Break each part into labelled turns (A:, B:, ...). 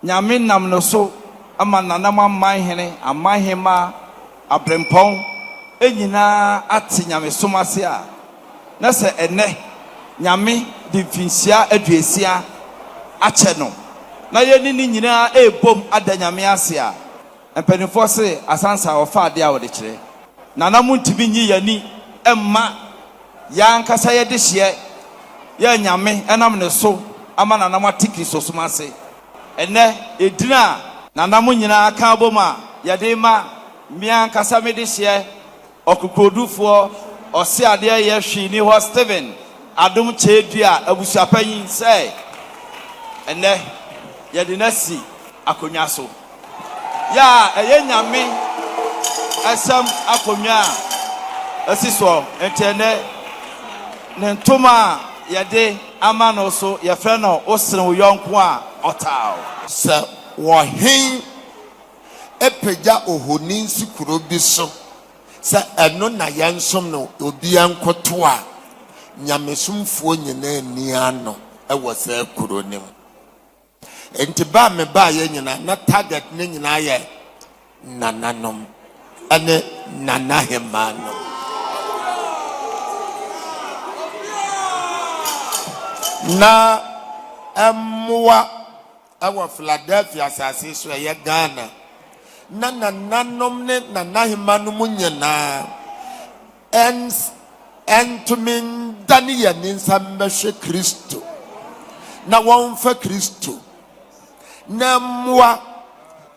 A: Nyame nam no so ama Nananom Aman Hene, Aman Hemma, Abrempɔn nyina ate Nyamesom ase a na sɛ ɛnnɛ Nyame de mfinhyia aduosia akyɛ no na yɛne no nyina ɛrebom ada Nyame ase a, Mpanimfoɔ se asansa wɔfa adeɛ a wɔde kyerɛ. Nana montumi nyi y'ani mma yɛn ankasa yɛdehyeɛ yɛ Nyame ɛnam ne so ama Nana moate Kristosom ase. Ɛnnɛ edin a Nana mo nyinaa ka abom a yɛde rema me ankasa medehyeɛ Ɔkokoɔdufoɔ ɔseadeɛ yɛ hwee ni hɔ Stephen Adom Kyɛɛdua abusuapanyin sɛ ɛnnɛ yɛde no asi akonnwa so. Yɛ a ɛyɛ Nyame asɛm akonnwa a asi soɔ nti ɛnnɛ ne ntoma a yɛde ama no so yɛfrɛ no Wo sene wo yɔnko a ɔtaa wo. Sɛ
B: wɔ he? pagya ohoni si kuro bi so sɛ ɛno na yɛnsom no, obiara nkoto a, nyamesomfoɔ nyinaa nni ano wɔ saa kuro no mu. Enti ba a mebaeɛ nyinaa, na target no nyinaa yɛ nananom ne nanahemaa no. Na mmoa Wɔ Philadelphia asase so a ɛyɛ Ghana, na nananom ne nanahemmanom nyinaa ntumi ndane yɛn nsa mmɛhwɛ Kristo na wɔmfa Kristo na mmoa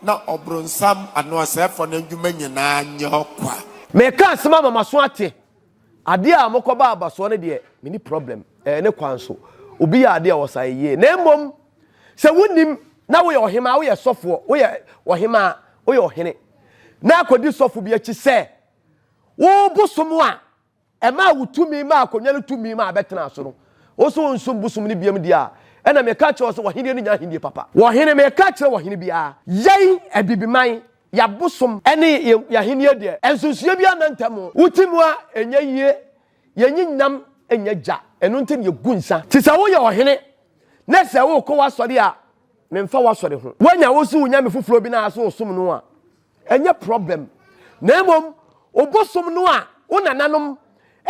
B: na ɔbronsam anaa ɔsɛefoɔ no adwuma nyinaa nyɛ ɔkwa. Meka asem
C: ama maso ate. Adeɛ a mokɔba abasoɔ no deɛ menni problem. Ɛyɛ ne kwan so. Obi yɛ adeɛ a ɔsane yie. Na mmom Sɛ wonim na woyɛ ɔhemaa, woyɛ sɔfoɔ, woyɛ ɔhemaa, woyɛ ɔhene, na akɔdi sɔfo bi akyi sɛ wo bosom a ɛmaa wo tumi maa akonnwa no tumi maa bɛtenaa so no, wo nso wonsom bosom no biam deɛ a, ɛna meka kyerɛ wo sɛ w'ahennie no nyɛ ahennie papa. Wɔhene, meka kyerɛ wɔhene biara. Yɛn, Abibiman, yɛabosom ne yɛn ahennie deɛ, nsunsuiɛ biara nna ntam. Wo Timuwa, ɛnyɛ yie. Yɛnyi nam nyɛ gya, ɛno nti na yegu nsa. Te sɛ woyɛ ɔhene, na sɛ wokɔ w'asɔre a, memfa w'asɔre ho. Woanya wo so wo nyame foforɔ bi no ara so wosom no a, ɛnyɛ prɔblɛm. Na mmom, wobosom no a wo nananom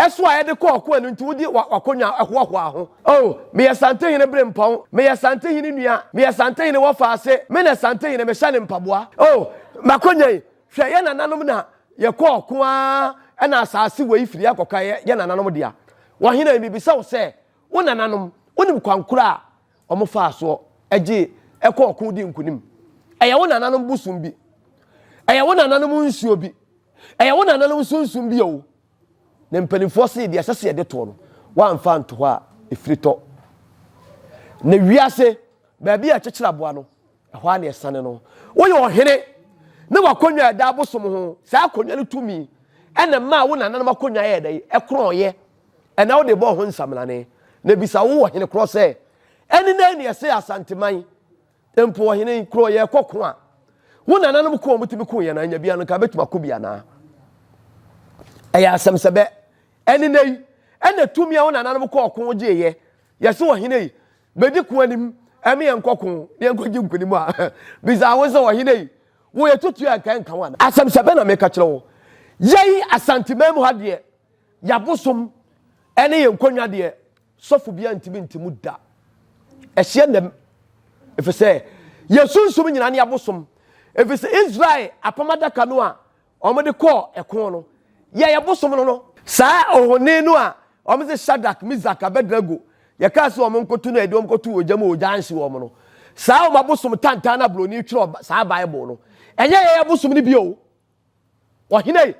C: so a ɛde kɔɔ ɔko a ɛno nti wode w'akonnwa hoahoaa ho. O, meyɛ Santehene berempɔn, meyɛ Santehene nua, meyɛ Santehene wɔfaase, me na Santehene mehyɛ ne mpaboa. O, m'akonnwa yi, Hwɛ, yɛn nananom na yɛkɔɔ ɔko ara, ɛnna asaase wei firi ha kɔka yɛ yɛn nananom dea. Ɔhene, mebisa wo sɛ, wo nananom, wonim kwan koro a wɔfaa soɔ gyee ɛkɔɔ ɔko dii nkonim? Ɛyɛ wo nananom bosom bi? Ɛyɛ wo nananom nsuo bi? Ɛyɛ wo nananom sunsum bi oo? Na mpanimfoɔ see deɛ ɛsɛ sɛ yɛde toɔ no, wɔamfa anto hɔ a ɛfiri tɔ. Na wiase baabi a ɛkyekyere aboa no, Ɛhɔ ara na ɛsane no. Woyɛ ɔhene, na w'akonnwa a ɛda abosom ho, saa akonnwa no tumi na ɛmaa wo nananom akonnwa yɛɛ dɛn? Ɛkorɔnɔeɛ. Ɛnna wode bɔɔ ho nsaminane. Na ɛbisa wo ɔhene korɔ sɛ, Ɛne dɛn na ɛsee Asanteman mpo? Ɔhene yi, korɔ yɛrekɔ ko a, wo nananom ko a wɔtumi koo yɛn anyabia no, nka yɛbɛtumi ako bi anaa? Ɛyɛ asɛm sɛ bɛ. Ɛne nnɛ yi, ɛnna tumi a wo nananom kɔɔ ko gyeeɛ, yɛse ɔhene yi, Bedi ko anim ɛme yɛnkɔ ko na yɛnkɔgye nkonim a bisaa wo sɛ ɔhene yi wo yɛ tutuo a nka ɛnka wo anaa? Asɛmhyɛ bɛn na meka kyerɛ wo? Yɛn Asanteman mu ha deɛ y'abosom ɛne yɛn nkonnwa deɛ sɔfo biara ntumi nte mu da. Ɛhyeɛ nnɛm efisɛ yɛn sunsum nyinaa ne y'abosom efisɛ Israel apam adaka no a wɔde kɔɔ ɛko no yɛɛ bosom no no. Saa ohoni no a wɔse Shadrach, Mesach, Abednego, yɛkaa sɛ wɔn nkoto no a yɛde wɔn kɔtoo ogya mu a ogya anhye wɔn no, saa wɔn abosom tantan no a Buroni twerɛ saa Bible no, ɛnyɛ yɛn abosom no bio. Ɔhene ei,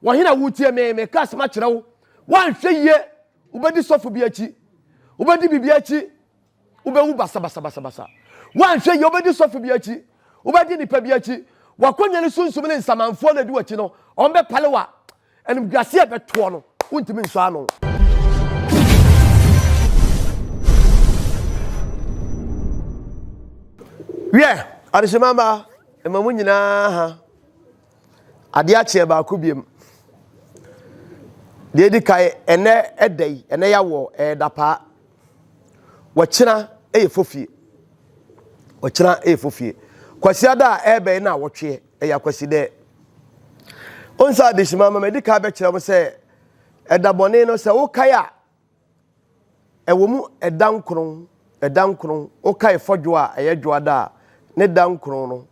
C: wɔhene a wotie me, meka asɛm akyerɛ wo, woanhwɛ yie, wobɛdi sɔfo bi akyi, wobɛdi biribi akyi, Wobɛwu basabasabasabasa. Woanhwɛ yie, wobɛdi sɔfo bi akyi, wobɛdi nnipa bi akyi. W'akonya ne sunsum ne nsamanfoɔ na ɛdi w'akyi no, wɔn bɛpale wa. Animguaseɛ bɛtoɔ no, wontumi nsɔ ano. Wiɛ, adehyema mmaa, ɛma mo nyinaa ha. Adeɛ akyeɛ baako biom. Deɛ edi kan, ɛnɛ ɛda yi, ɛnɛ yawɔ ɛyɛ dapaa. Wɔkyena ɛyɛ fofie. Wɔkyena ɛyɛ fofie. Kwasi ada a ɛbɛ yi na wɔtweɛ ɛyɛ akwasi dɛ. Onsa adesima mama edi kan bɛkyerɛ mo sɛ ɛda bɔne no sɛ wokae a Ɛwɔ mu ɛda nkron, ɛda nkron, wokae fɔdwo a ɛyɛ dwoada a ne da nkron no,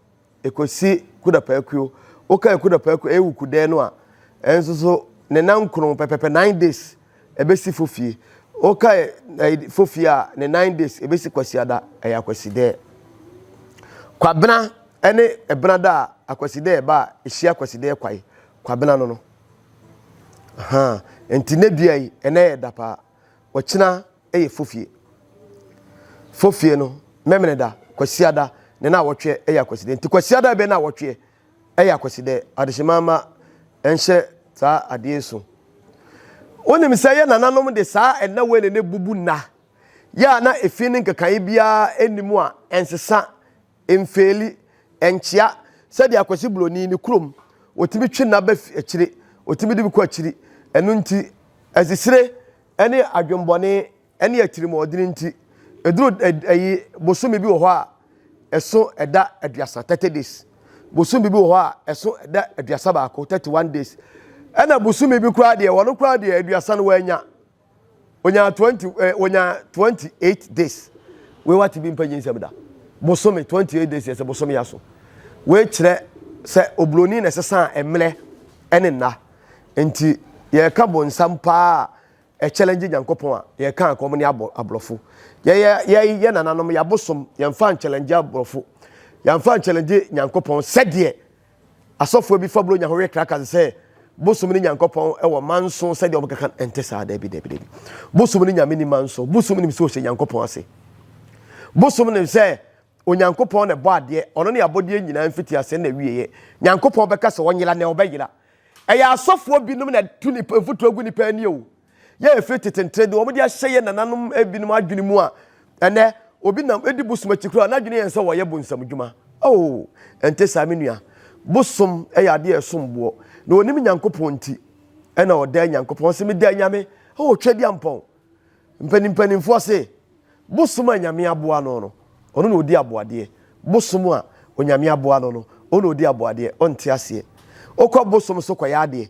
C: ɛkɔsi Kudapaakuo, wokae Kudapaakuo ɛyɛ wo kudɛɛ no a, ɛnso so ne na nkron pɛpɛpɛ, nine days, ɛbɛsi Fofie. Wokae ɛyi Fofie a, ne nine days, ɛbɛsi Kwasiada, ɛyɛ Akwasidɛɛ. Kwabena ɛne Ɛbenada a Akwasidɛɛ ba a ɛhyia Akwasidɛɛ kwae, Kwabena no no. Ahaa, nti nnɛ dua yi, ɛnnɛ yɛ da paa. Ɔkyena yɛ fofie. Fofie no, Memeneda, Kwasiada, ne Naawɔtweɛ yɛ Akwasidɛ. Nti Kwasiada bɛyɛ Naawɔtweɛ yɛ Akwasidɛ. Adehyema mma ɛnhyɛ saa adeɛ yi so. Wonim sɛ yɛ nananom de saa nna wei na na ɛbubu nna yɛ a na efi no nkekaeɛ biara nni mu a ɛnsesa Mfeeli, Ɛnkyea, sɛdeɛ Akwasi Buroni, ne kurom, wɔtumi twe nna ba fi akyire, wɔtumi de bi kɔ akyiri. Ɛno nti, azisire ne adwemmɔne ne atirimuɔdene nti, ɛduru ayi bosome bi wɔ hɔ a, ɛso ɛda aduasa, 30 days. Bosome bi wɔ hɔ a, ɛso ɛda aduasa baako, 31 days. Ɛna bosome bi koraa deɛ, wɔn koraa deɛ aduasa no wɔanya. Onyaa twenty ɛ eh, onyaa twenty eight days wei wate bi mpa nyi nsɛm da bosome twenty eight days yɛ sɛ bosome yɛ so wei kyerɛ sɛ oburoni na ɛsesa mmerɛ ɛne nna nti yɛka bonsam paa a ɛkyɛlɛngye nyankopɔn a yɛka a kɔm ne aborɔfo yɛyɛ yɛyɛ nananom yɛabosom yɛmfa nkyɛlɛngye aborɔfo yɛmfa nkyɛlɛngye nyankopɔn sɛdeɛ Asɔfoɔ bi fa Buronya ho we Kraken sɛ bosom ne Nyankopɔn wɔ ma nso sɛdeɛ wɔn keka no. Ɛnte saa. Dabi, dabi, dabi. Bosom ne Nyame ni ma nso. Bosom nim sɛ ɔhyɛ Nyankopɔn ase. Bosom nim sɛ Onyankopɔn na ɛbɔ adeɛ. Ɔno ne abɔdeɛ nyinaa mfitiaseɛ ne n'awieɛ. Nyankopɔn bɛka sɛ ɔnyera na ɔbɛyera. Ɛyɛ asɔfoɔ binom na ɛtu mfutuo gu nnipa ani o. Yɛ ɛfiri tetentere deɛ wɔde ahyɛ yɛ nananom binom adwene mu a ɛnɛ obi nam edi bosom akyi koraa n'adwene yɛn sɛ wɔyɛ bonsam dwuma oo ɛnte saa me nua bosom ɛyɛ adeɛ ɛsom boɔ na onim nyankopɔn nti ɛna ɔdaa nyankopɔn se medaa nyame oo twɛ di ampɔn mpanimpanimfoɔ se bosom a nyame aboa no no ɔno na odi aboadeɛ bosom a onyame aboa no no ɔna odi aboadeɛ ɔnte aseɛ okɔ bosom so kɔyɛ adeɛ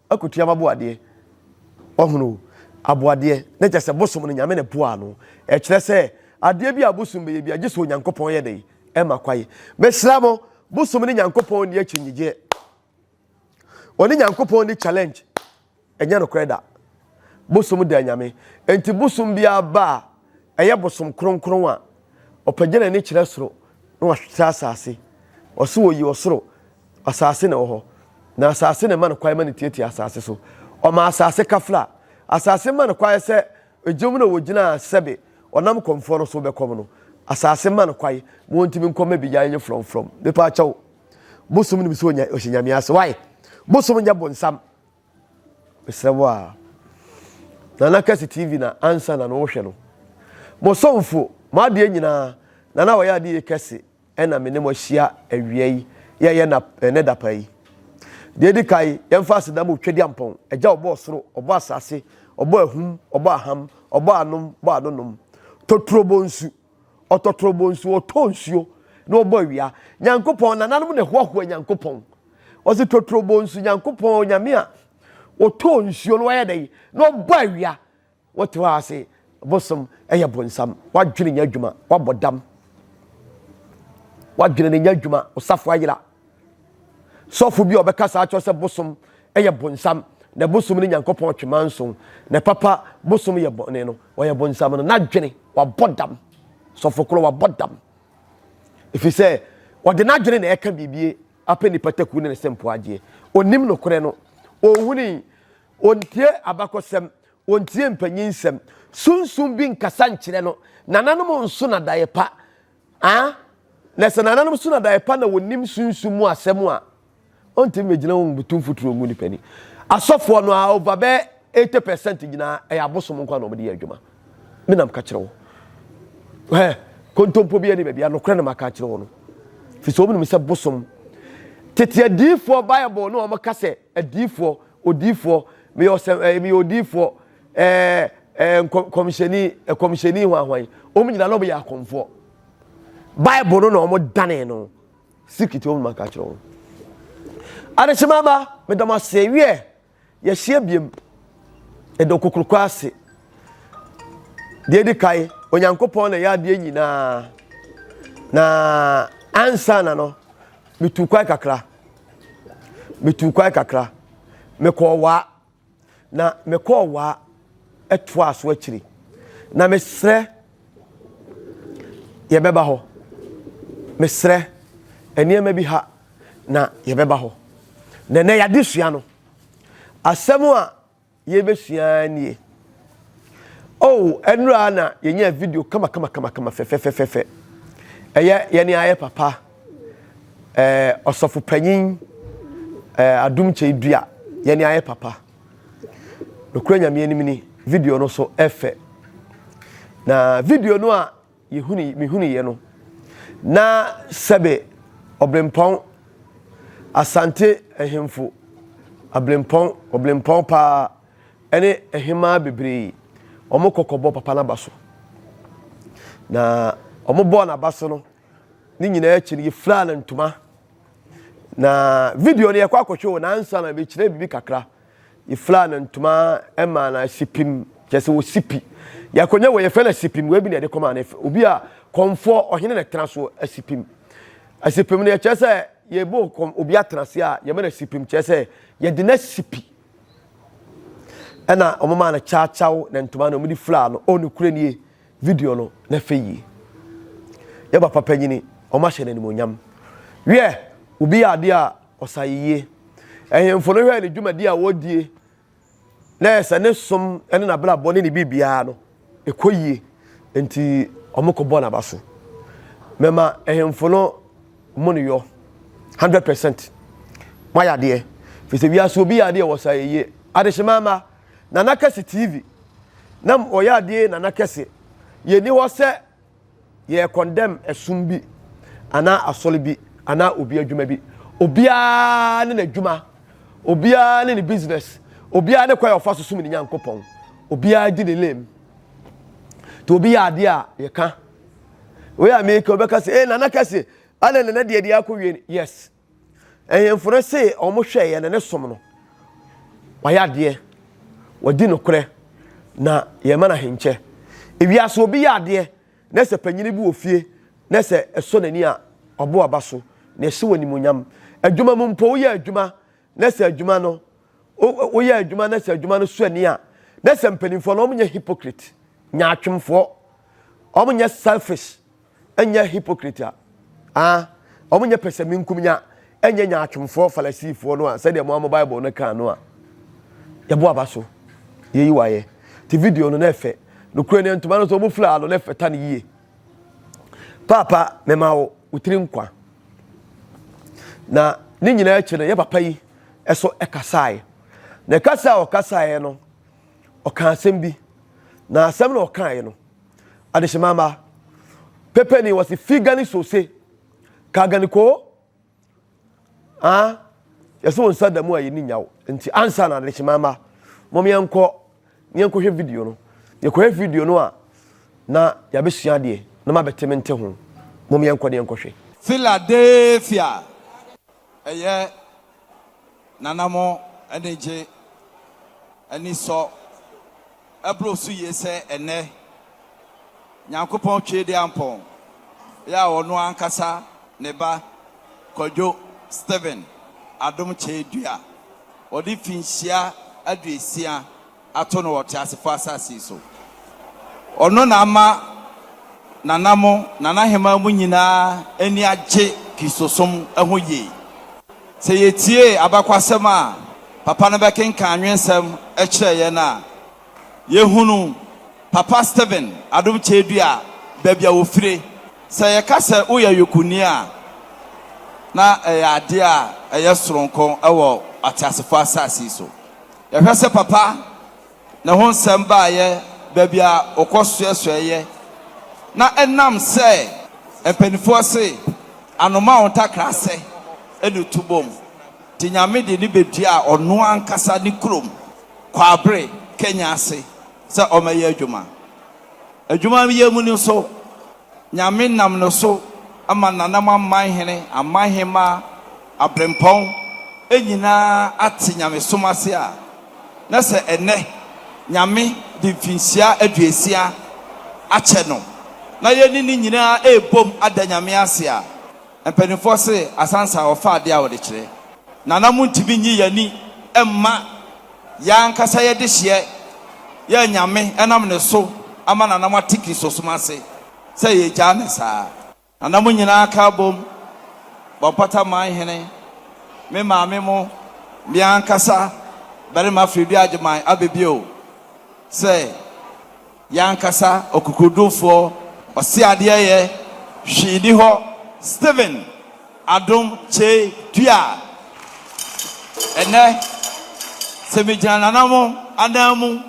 C: Akotua ma boadeɛ. Wahunu o, aboadeɛ, na kyerɛ sɛ bosom no Nyame na ɛboaa no. Ɛkyerɛ sɛ adeɛ bi a bosom bɛyɛ biara, gye sɛ Onyankopɔn yɛ dɛn? Ɛma kwan. Mesrɛ mo, bosom ne Nyankopɔn nni akyinnyegyeɛ. Ɔne Nyankopɔn nni challenge. Ɛnyɛ nokorɛ da. Bosom da Nyame. Enti bosom biara ba a, ɛyɛ bosom kronkron a ɔpagya n'ani kyerɛ soro na wahwɛ asase. Ɔso oyi ɔsoro, asase na ɛwɔ hɔ, na asase na ɛma no kwan ma no tiatia asase so. Ɔma asase kafra. Asase ma no kwan sɛ egyam na wɔgyina sɛbe ɔnam kɔmfoɔ no so bɛkɔm no. Asase ma no kwan ma ɔntumi nkɔ mma bigyae nye frɔmfrɔm. Mepa akyɛw, bosom nim sɛ ɔhyɛ Nyame ase. Why? Bosom nyɛ bonsam. Mesrɛ wo aa. Nana kɛse TV na ansa na no wo hwɛ no. Mo somfo, mo adeɛ nyinaa, Nana wayɛ adeɛ yie kɛse ɛna me ne mo ahyia awia yi yɛ yɛ nap ɛnɛ dapa yi. Deɛ edi kan yɛn mfa aseda ma Otwadiampɔn, Agya ɔbɔ ɔsoro, ɔbɔ asaase, ɔbɔ ahum, ɔbɔ aham, ɔbɔ anom, bɔ anonom, Toturo bɔ nsu. Ɔtɔ torobɔ nsuo, ɔtɔ nsuo na ɔbɔ awia. Nyankopɔn, nananom na ɛhoahoa Nyankopɔn. Ɔse tɔ torobɔ nsu, Nyankopɔn, Onyame a ɔtɔ nsuo na wayɛ dɛn na ɔbɔ awia. Wote hɔ a se bosom ɛyɛ bonsam, wadwene nyɛ adwuma, wabɔ dam. Wadwene no nyɛ adwuma, ɔsafo ayera. Sɔfo bi a ɔbɛkasa akyerɛ sɛ bosom yɛ bonsam, na bosom ne Nyankopɔn twema nson, na papa bosom yɛ bɔne no, ɔyɛ bonsam no, n'adwene wabɔ dam. Sɔfo koro wabɔ dam. Ɛfiri sɛ, ɔde n'adwene na ɛka biribi apɛ nipa takuo ne ne sempo agyeɛ. Ɔnim nokorɛ no. Ɔnhuni. Ɔntie abakɔsɛm. Ɔntie mpanyin nsɛm. Sunsum bi nkasa nkyerɛ no. Nananom nso nadaeɛ pa. Aa na sɛ nananom so na dae pa na wɔnim sunsum mu asɛm a, ɔntumi mɛgyina wɔn butu mfuturo ngu nipa ni. Asɔfoɔ no a over bɛɛ 80 percent nyinaa ɛyɛ abosom nko a na wɔde yɛ adwuma. Me nam ka kyerɛ wo. Hɛ, kontompo bi ani baabi a nokorɛ na maka kyerɛ wo no. Firi sɛ wɔn nim sɛ bosom. Tete adiifoɔ Bible no a wɔka sɛ adiifoɔ, odiifoɔ, meyɛ ɔsɛm, ɛɛ, meyɛ odiifoɔ, Ɛɛ, ɛɛ, nkɔ, kɔmhyɛni, ɛkɔmhyɛni hwan hwan, wɔn nyinaa na wɔyɛ akɔmfoɔ. Bible no na wɔn danee no. Sikiti wɔn maka kyerɛ wɔn. Adehyema ba, medam ase wiɛ, yɛhyia biem. Ɛdɔ kokoroko ase. Deɛ edi kan, Onyankopɔn na ɛyɛ adeɛ nyinaa. Na ansa na no, metu kwan kakra. Metu kwan kakra. Mekɔɔ waa. Na mekɔɔ waa ɛtoaa so akyiri. Na mesrɛ yɛbɛba hɔ. Mesrɛ nneɛma bi ha na yɛbɛba hɔ. Na ɛnɛ yɛade sua no. Asɛm a yɛbɛsua nie. Oh, ɛnura na yɛnya video kama kama kama kama fɛfɛfɛfɛ. Ɛyɛ yɛne ayɛ papa. Ɛɛ ɔsɔfo panyin, ɛɛ adum kyɛ dua, yɛn ni ayɛ papa. Nokura nyame anim ni, video no so ɛfɛ. Na video no a yɛhuni, mehuni yɛ no, na sɛbe ɔbrempɔn asante ahemfo, abrempɔn, ɔbrempɔn paa, ɛne ɛhemaa bebree, wɔn kɔkɔbɔ papa n'aba so. Na wɔn bɔɔ n'aba so no, Ne nyinaa akyi no, yɛfiraa no ntoma. Na video no yɛkɔ akɔhwɛ o nansa na bɛkyerɛ biribi kakra. Yɛfiraa no ntoma ma no asipim kyɛ sɛ wɔsipi. Yɛakɔnya wɔ yɛfɛ no asipim wei bi na yɛde kɔma no obi a kɔmfoɔ ɔhene na ɛtena so asipim. Asipim no yɛkyerɛ sɛ yɛbɔ kɔm obi atena ase a yɛma no asipim kyerɛ sɛ yɛde no asipi. Ɛna wɔn maa no kyaakyaw na ntoma na wɔde firaa no o ne kure nie. Video no na fɛ yie. Yɛ papa panyini wɔn ahyɛ no animuonyam. Wiɛ, obi yɛ adeɛ a ɔsa ayeyie. Ɛhemfo no hwɛɛ ne dwumadi a wɔdie na yɛ sɛ ne som ne n'abrabɔ ne ne biribiara no ɛkɔ yie nti wɔn kɔ bɔ n'abase. Mɛma ɛhemfo no mo ne yɔ hundred percent. Mo ayɛ adeɛ. Firi sɛ wiase obi yɛ adeɛ wɔsa ayeyie. Adehyemama. Nana Kɛse TV na wɔyɛ adeɛ Nana Kɛse yɛnni hɔ sɛ yɛ condemn ɛsom bi anaa asɔre bi anaa obi adwuma bi obiara ne n'adwuma obiara ne ne business obiara ne kwan a ɔfa so som ne nyankopɔn obiara di ne lane nti obi yɛ adeɛ a yɛka wei a meka wobɛka sɛ eh Nana Kɛse ana nana deɛ deɛ akɔwie yes Ahemfo no se wɔn hwɛ yɛn ne som no, wɔayɛ adeɛ, wɔadi nokorɛ, na yɛn ma no ahenkyɛ. Ewiase obi yɛ adeɛ, na sɛ panyini bi wɔ fie, na sɛ ɛsɔ n'ani a, ɔbɔ aba so, na ɛhyɛ wɔn animuonyam. Adwuma mu mpo, woyɛ adwuma, na sɛ adwuma no, woyɛ adwuma, na sɛ adwuma no sɔ ani a, na sɛ mpanimfoɔ no, wɔnyɛ hypocrite, nyaatwomfoɔ, wɔnyɛ selfish. Ɛnyɛ hypocrite a, ah, wɔnyɛ pɛsɛmenkomenya, ɛnyɛ nyaatwomfoɔ Farisifoɔ no a, sɛdeɛ mo ara mo Bible no kaa no a, yɛbɔ aba so, yɛyi wo ayɛ. Te video no na ɛfɛ. Nokorɛ ni, ntoma no nso wɔn firaa no na ɛfata no yie. Paapa, mema wo wo tiri nkwa. Na ne nyinaa akyi no, yɛ papa yi ɛso ɛkasaeɛ. Na ɛkasa a ɔkasaeɛ no, ɔkaa asɛm bi. Na asɛm na ɔkaeɛ no, Adehyema mma. Pepe ni wɔsi fi gani sose ka gani ko ah yɛsɛ wɔn nsa da mu a yɛni nyaw nti ansa na adehyema mma mom yɛnkɔ ne yɛnkɔhwɛ video no yɛkɔhwɛ video no a na yɛabɛsua adeɛ na mabɛte me nte ho mom yɛnkɔ ne yɛnkɔhwɛ Philadelphia
A: Ɛyɛ Nana mo anigye anisɔ ɛboro so yie sɛ ɛnnɛ Nyankopɔn Tweediampɔn yɛ a ɔno ankasa ne ba Kwadwo Stephen Adom Kyei dua ɔde finhyia aduosia ato no wɔ ɔteasefo asase so. Ɔno na ama Nana mo, Nana Aheman mu nyinaa ani agye Kristosom ho yie. Sɛ yɛtie abakwasɛm a Papa no bɛkenkan anwensɛm kyerɛ yɛn a, yɛhunu Papa Stephen Adom Kyɛadua baabi a ɔfire. Sɛ yɛka sɛ woyɛ Yokuni a, na ɛyɛ adeɛ a ɛyɛ soronko wɔ ateasefo asase so. Yɛhwɛ sɛ papa na ɛho nsɛm baeɛ baabi a ɔkɔ soɛsoɛeɛ na ɛnam sɛ mpaninfoɔ se anoma wo ntakrasɛ na ɛtu bom nti Nyame de no bɛduaa ɔno ankasa ne kurom Kwabere Kenya ase sɛ ɔmɛyɛ adwuma. Adwuma yɛ mu no nso Nyame nam no so ama Nanamanman hene, Amanhemma, Abrempɔn nyina ate Nyamesom ase a, na sɛ ɛnnɛ Nyame de mfinhyia aduosia akyɛ no, na yɛne no nyina ɛrebom ada Nyame ase a, Mpanimfoɔ se asansa a wɔfa adeɛ a wɔde kyerɛ na na montumi nyi yɛn ani mma yɛn ankasa yɛn dehyeɛ yɛ anyame ɛnam ne so ama na na moate Kristosom ase sɛ yɛgyaa no saa. Na na mo nyinaa ka abom bɔ mpata man hene, me maame mo, me ankasa, barima Fredua Agyeman Abebio, sɛ. Yɛn ankasa ɔkokodurufoɔ, ɔseadeɛyɛ, hwee nni hɔ, Stephen Adom Kyei Duah. Ɛnnɛ, sɛ megyina nananom anan mu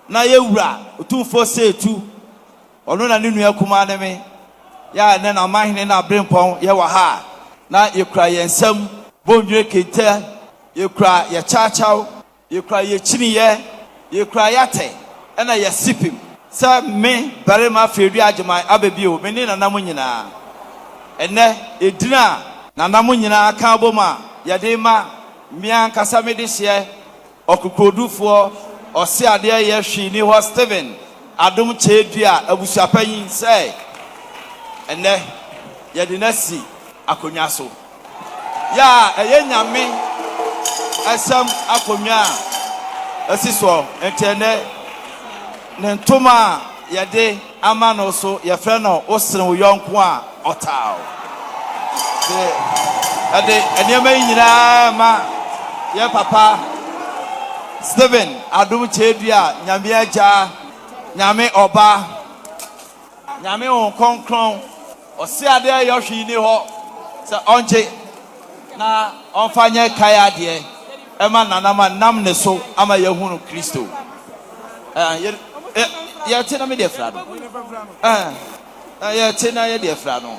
A: na yɛ Wura Otumfoɔ Osei Tuh, ɔno na ne nua kumaa ne me, yɛ a ɛnnɛ na Amanhene na Aberempɔn yɛ wɔ ha a, na yɛkura yɛn nsam, Bondwire Kente, yɛkura yɛ Kyawkyaw, Yekura yɛ kyiniyɛ, yekura yɛ atɛ ɛna yɛ sipim. Sɛ me, barima Fredua Agyeman aba bio, me ne Nana mo nyinaa. Ɛnɛ, edin a Nana mo nyinaa ka abom a yɛde rema me ankasa me dehyeɛ ɔkokoɔdufoɔ, ɔseadeɛ yɛ hwee nni hɔ Stephen Adom Kyɛɛdua abusuapanyin sɛ ɛnɛ yɛde no asi akonnwa so. yɛ a ɛyɛ Nyame Asɛm akonnwa a asi soɔ. Enti ɛnnɛ ne ntoma a yɛde ama no so yɛfrɛ no Wo sene wo yɔnko a ɔtaa wo. Te ɛde nneɛma yi nyinaa ma yɛ papa Stephen Adom Kyɛdua, Nyame Agya, Nyame Ɔba, Nyame Honhom Kronkron, Ɔse adeɛ a ɛyɔ hwee nni hɔ sɛ Ɔngye na Ɔmfa nyɛ kae adeɛ ɛma Nana ma nam ne so ama yɛahunu Kristo. Yɛte na me deɛ fira no. Yɛte na yɛdeɛ fira no.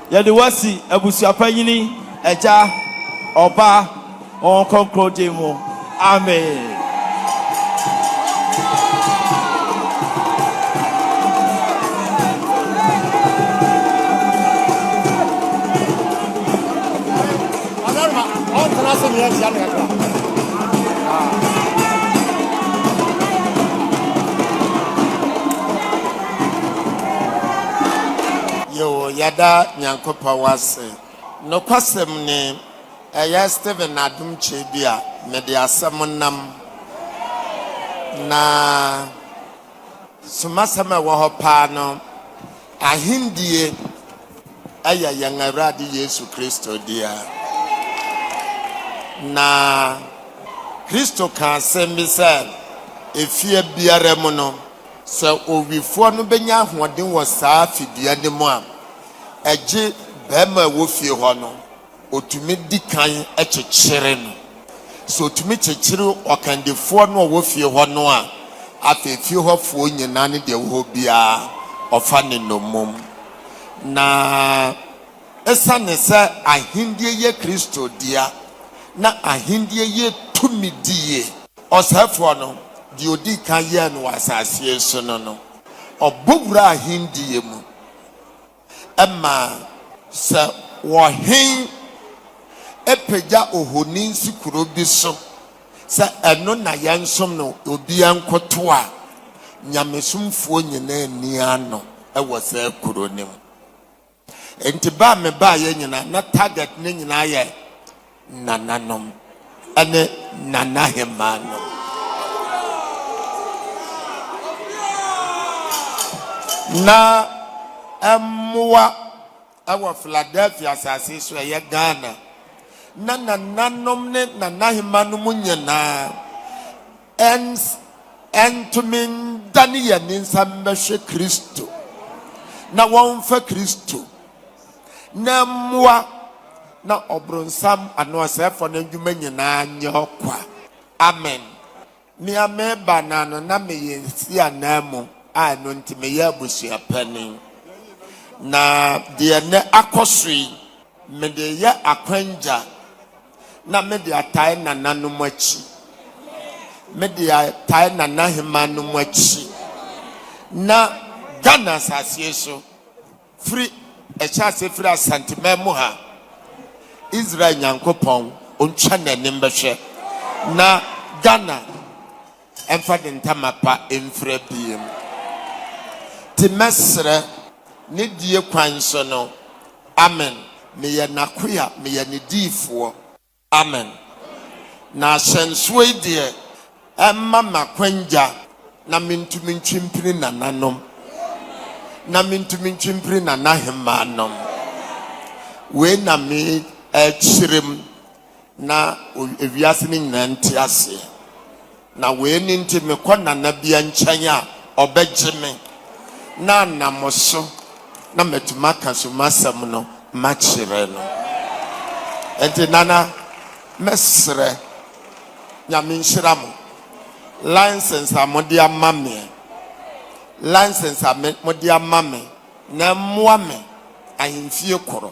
A: Yɛde wo asi abusua panyini, Agya, Ɔba, Honhom Kronkron din mu, amen.
B: Yo, yɛda Nyankopɔn ase. Nokwasɛm ni, ɛyɛ Stephen adom kyɛ bi a mede asɛm nam, na sumasɛm a ɛwɔ hɔ paa no, Ahendie yɛ yɛn Awurade Yesu Kristo dea. Na Kristo kaa asɛm bi sɛ, Efie biara mu no, Sɛ owifoɔ no bɛnya ahoɔden wɔ saa fidua no mu a, ɛgye barima a ɛwɔ fie hɔ no, ɔtumi di kan kyekyere no. Sɛ ɔtumi kyekyere ɔkandifoɔ no a ɔwɔ fie hɔ no a, afei fie hɔfoɔ nyinaa ne deɛ ɛwɔ hɔ biara, ɔfa ne nnommum. Na. Esiane sɛ ahenni yɛ Kristo dea na ahenni yɛ tumidi yi, ɔsɛefoɔ no, deɛ ɔdii kan yɛɛ no wɔ asase yi so no no, ɔbɔ wuraa ahenni mu ma sɛ ɔhen pagya ohoni si kuro bi so sɛ ɛno na yɛnsom no, obiara nkoto a, nyamesomfoɔ nyinaa nni ano wɔ saa kuro no mu. Nti bɛ a mebaeɛ nyina na target no nyinaa yɛ nananom ne nanahemaa nom. Na mmoa wɔ Philadelphia asase so a ɛyɛ Ghana. Na nananom ne nanahemaa nom nyinaa. Ems, Ɛntumi ndane yɛn ne nsa mmɛhwɛ Kristo na wɔmfa Kristo na mmoa na ɔbronsam anaa ɔsɛɛfoɔ no ndwuma nyinaa nyɛ ɔkwa. Amen. Me a meba no ano na meyɛ si ananmu a ɛno nti meyɛ abusua panin. Na deɛ nnɛ akɔso yi mede yɛ akwangya Na mede atae nananom akyi, mede atae nanahemanom akyi, na Ghana asaseɛ so firi ɛhyɛ ase firi Asanteman mu ha, Israel Nyankopɔn ɔntwa n'anim bɛhwɛ na Ghana Ɛmfa ne ntama pa mfira biem. Nti mɛsrɛ ne die kwan so no. Amen. Meyɛ n'akoa, meyɛ ne diifoɔ. Amen. Na ahyɛnsoɔ yi deɛ, ɛmma me akwangya na mentumi ntwe mpini nananom, na mentumi ntwe mpini nanahemmaa nom. Wei na merekyerem na ewiase no nyinaa nte aseɛ. Na wei ne nti mekɔ nana bia nkyɛn a ɔbɛgye me na anam so na matumi aka so masɛm no makyerɛ no. Nti nana mɛsrɛ nyame nhyira mo license a mode ama meɛ license a mode ama me na mmoa me ahemfie korɔ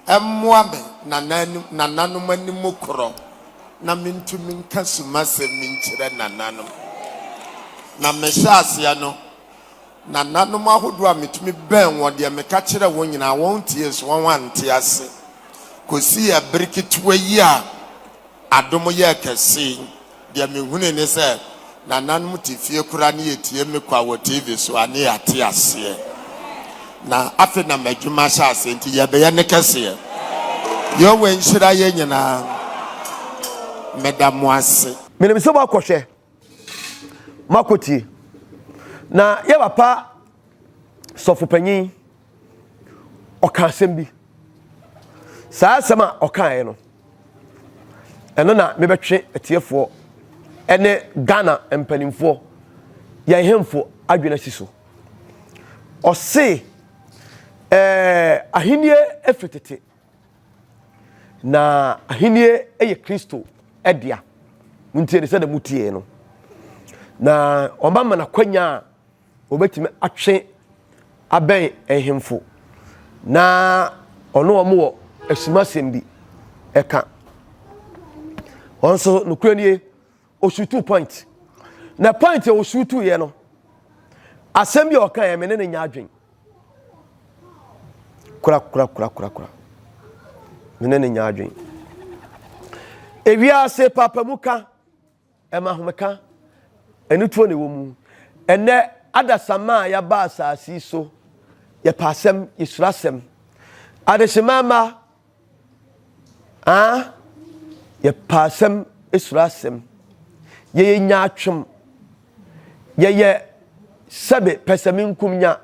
B: Mmoa me nananom anim korɔ na mentumi nka sumasɛm nkyerɛ nananom. Na mehyɛ aseɛ no, nananom ahodoɔ a metumi bɛn wɔn deɛ meka kyerɛɛ wɔn nyinaa wɔntiee so wɔante ase kɔsii ɛbere ketewa yi a adom yɛɛ kɛse yi. Deɛ mehunui ne sɛ nananom te fie koraa ne yɛtie me kwa wɔ TV so a ne yɛate aseɛ. Na afei na m'adwuma ahyɛ aseɛ nti yɛbɛyɛ ne kɛseɛ. Yehowa nhyira yɛn nyinaa. Meda mo ase. Menim sɛ moakɔhwɛ,
C: moakɔtie. Na yɛn papa sɔfopanyin. ɔka asɛm bi saa asɛm a ɔkaeɛ no ɛno na mebɛtwe atiefoɔ ɛne ghana mpanimfoɔ yɛn hemfo adwene asi so ɔse ɛɛ ahennie ɛfiri tete na ahennie ɛyɛ kristo ɛdea montie ne sɛdeɛ motie no na ɔma ma nakwanya a Wɔbɛtumi atwe abɛn nhemfo na ɔne wɔn wɔ asumasɛm bi ɛka. Wɔn nso nokorɛ nie, ɔsuutuu point. Na point a ɔsuutuiɛ no, asɛm bi a ɔka yɛ me ne ne nya adwen. Kura kura kura kura kura. Me ne ne nya adwen. Ewiase papa mu ka. Ɛma ahomeka. Anituo na ɛwɔ mu. Ɛnnɛ, adasamma a yɛaba asase yi so, yɛpɛ asɛm, yɛsuro asɛm. Adehyemma mma, ah, yɛpɛ asɛm, yɛsuro asɛm. Yɛyɛ nyaatwom. Yɛyɛ sɛbe pɛsɛmenkomnya.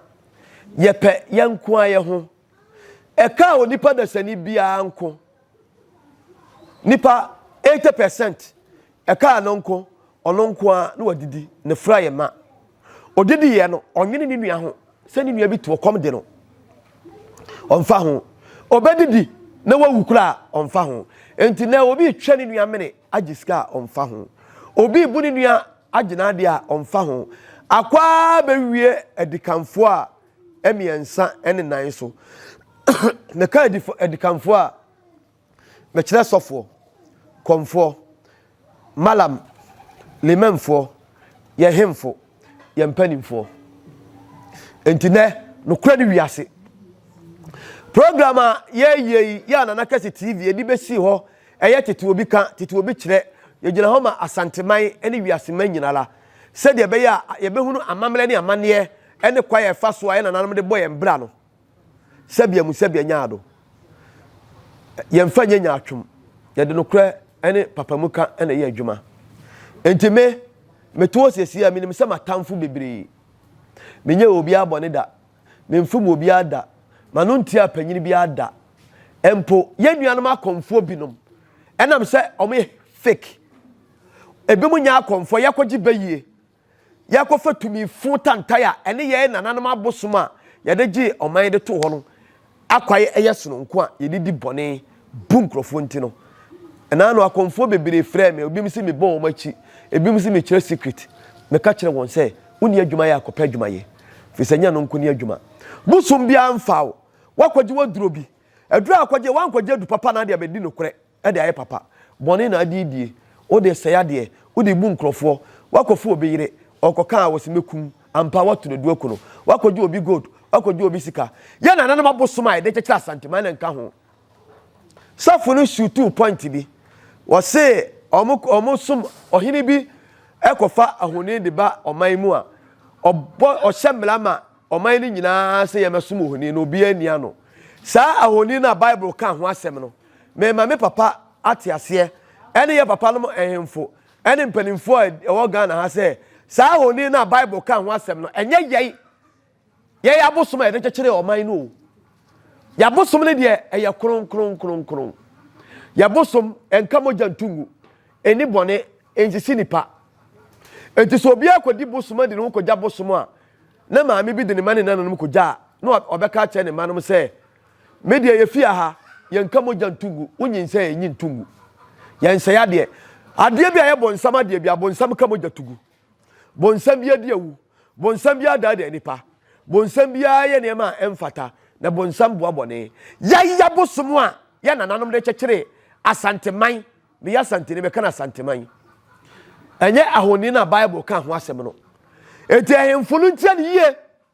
C: Yɛpɛ yɛn nko ara yɛn ho. Ɛkaa onipa dasani biara nko. Nnipa eighty percent, ɛkaa no nko, ɔno nko ara na wadidi, ne fra yɛ ma. Odidiiɛ no, ɔnwene ne nua ho sɛ ne nua bi to ɔkɔm de no. Ɔmfa ho. Ɔbɛdidi na wawu koraa a, ɔmfa ho. Enti na obi retwa ne nua mene agye sika a, ɔmfa ho. Obi rebu ne nua agye n'adeɛ a, ɔmfa ho. Akɔ ara bɛwie adikanfoɔ a, mmiɛnsa ne nan so. Meka adifo adikanfoɔ a, mekyerɛ sɔfoɔ, kɔmfoɔ, malam, limamfoɔ, yɛn hemfo, yɛn mpanimfoɔ. Nti nɛ, nokorɛ ne wiase. Program a yɛyɛ yi yɛ a Nana Kɛse TV ɛde bɛsi hɔ ɛyɛ tete obi ka, tete obi kyerɛ. Yɛgyina hɔ ma Asanteman ne wiaseman nyinara sɛdeɛ ɛbɛyɛ a yɛbɛhunu amammerɛ ne amanneɛ ne kwan a yɛfa so a yɛn nananom de bɔ yɛn bra no, sɛbea mu sɛbea nyaado, yɛmfa nyɛ nyaatwom, yɛde nokorɛ ne papamu ka na ɛyɛ adwuma. Enti me, mete hɔ siesie a menim sɛ m'atamfo bebree. Menyɛɛ obiara bɔne da, memfom obiara da, m'ano ntiaa panyin biara da. Mpo yɛn nuanom akɔmfoɔ binom, ɛnam sɛ wɔyɛ fake, ebinom nyɛ akɔmfoɔ, yɛkɔgye bayie. yɛakɔfa tumi funu tantae a ɛne yɛn nananom abosom a yɛde gyee ɔman de too hɔ no akwae yɛ sononko a yɛde di bɔne bu nkurɔfoɔ nti no. Ɛnaa no akɔmfoɔ bebree frɛɛ me, ebinom se mebɔ wɔn akyi, ebinom se mekyerɛ secret. Meka kyerɛɛ wɔn sɛ, Wonni adwuma yɛ a, kɔpɛ adwuma yɛ, firi sɛ nyɛ no nko ne adwuma. Bosom biara mfaa wo, woakɔgye w'aduro bi, aduro a wokɔgyeɛ woankɔgye adu papa anaa deɛ bɛdi nokorɛ. de ayɛ papa, bɔne na ade die, wo de sɛe adeɛ, wo de bu nkorɔfoɔ, wakɔ fu obi yere, ɔkɔka a wɔse mɛkum, ampa ara watu no du aku no, wakɔ gye obi gold, wakɔ gye obi sika, yɛn nananom abosom a yɛde kyekyere Asanteman na nka ho. Sɔfo no shutuu point bi, wɔse wɔn som ɔhene bi kɔfa ahoni de ba ɔman mu a, ɔbɔ ɔhyɛ mmara ma ɔman no nyinaa sɛ yɛmɛsom ohoni no, obiara nni ano. Saa ahoni no a Bible ka ho asɛm no, Mema me papa ate aseɛ ɛne yɛ papa nom nhemfo ɛne mpaninfoɔ a ɛwɔ Ghana ha sɛ saa ahoni no a Bible ka ho asɛm no ɛnyɛ yɛn yɛn abosom a yɛde kyekyere ɔman no o. Yɛabosom no deɛ ɛyɛ kronkronkronkron. Yɛabosom ɛnka mogya ntu ngu, ɛni bɔne, ɛnsisi nipa. Enti sɛ obiara kɔdi bosom adi ne ho kɔgya bosom a, na maame bi de ne ma ne nananom kɔgya a, na ɔbɛka akyerɛ ne mma nom sɛ, Me deɛ yɛfie aha yɛnka mogya nto ngu, wonyinsɛn a enyi nto ngu. Yɛnsɛe adeɛ. Adeɛ bi a ɛyɛ bonsam adeɛ bi a bonsam ka mogya to gu. Bonsam biara di awu. Bonsam biara daadaa nnipa. Bonsam biara yɛ nneɛma a ɛmfata, na bonsam boa bɔne. Yaya bosom a yɛn nananom de kyekyeree Asanteman, meyɛ Asanteni, meka no Asanteman, ɛnyɛ ahoni no a Bible kaa ho asɛm no. Enti ahemfo no ntie no yie.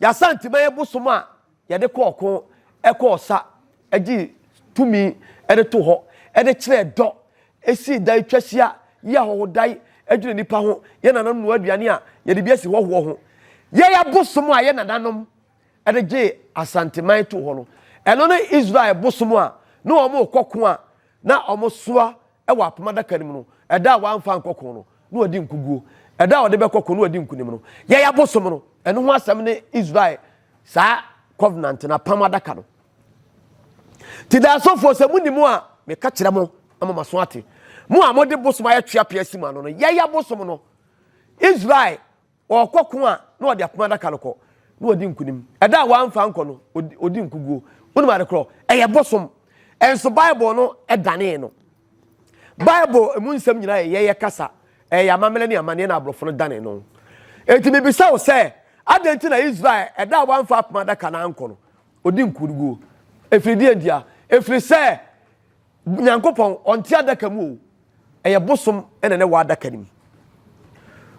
C: Y'Asanteman bosom a yɛde kɔ ɔko, kɔ ɔsa, gye tumi de to hɔ, de kyerɛ dɔ, si dan twa hyia, yi ahɔhodae dwiri nnipa ho, yɛ nananom noa aduane a yɛde bi asi hɔhoɔ ho. Yɛn abosom a yɛn nananom de gye Asanteman to hɔ no, ɛno ne Israel bosom a na wɔkɔ ko a na wɔsoa wɔ apam adaka no mu no, ɛda a wamfa ankɔ ko no, na wadi nkoguo. Ɛda a ɔde bɛkɔ ko no, wadi nkonim no. Yɛn abosom no, ɛno ho asɛm ne Israel saa covenant no, apam adaka no. Ti da asɔfoɔ sɛ mo ni mo a, meka kyerɛ mo ama mo aso ate. Mo a mode bosom ayɛ tweapea si mo ano no, yɛyɛ abosom no. Israel Ɔrekɔko a, na ɔde apam adaka no kɔ, na ɔdi nkonim. Ɛda a wamfa ankɔ no, ɔdi nkoguo. Wonim ade korɔ? Ɛyɛ bosom. Nso Bible no danee no. Bible mu nsɛm nyinaa yɛ yɛyɛ kasa. Ɛyɛ amammerɛ ne amanneɛ na aborɔfo no danee no. Enti mebisa wo sɛ, adɛn nti na Israel, ɛda a wamfa apam adaka no ankɔ no, ɔdi nkoguo? Ɛfiri deɛn ntia? Ɛfiri sɛ. Nyankopɔn, ɔnte adaka mu o, ɛyɛ bosom na ne wɔ adaka no mu.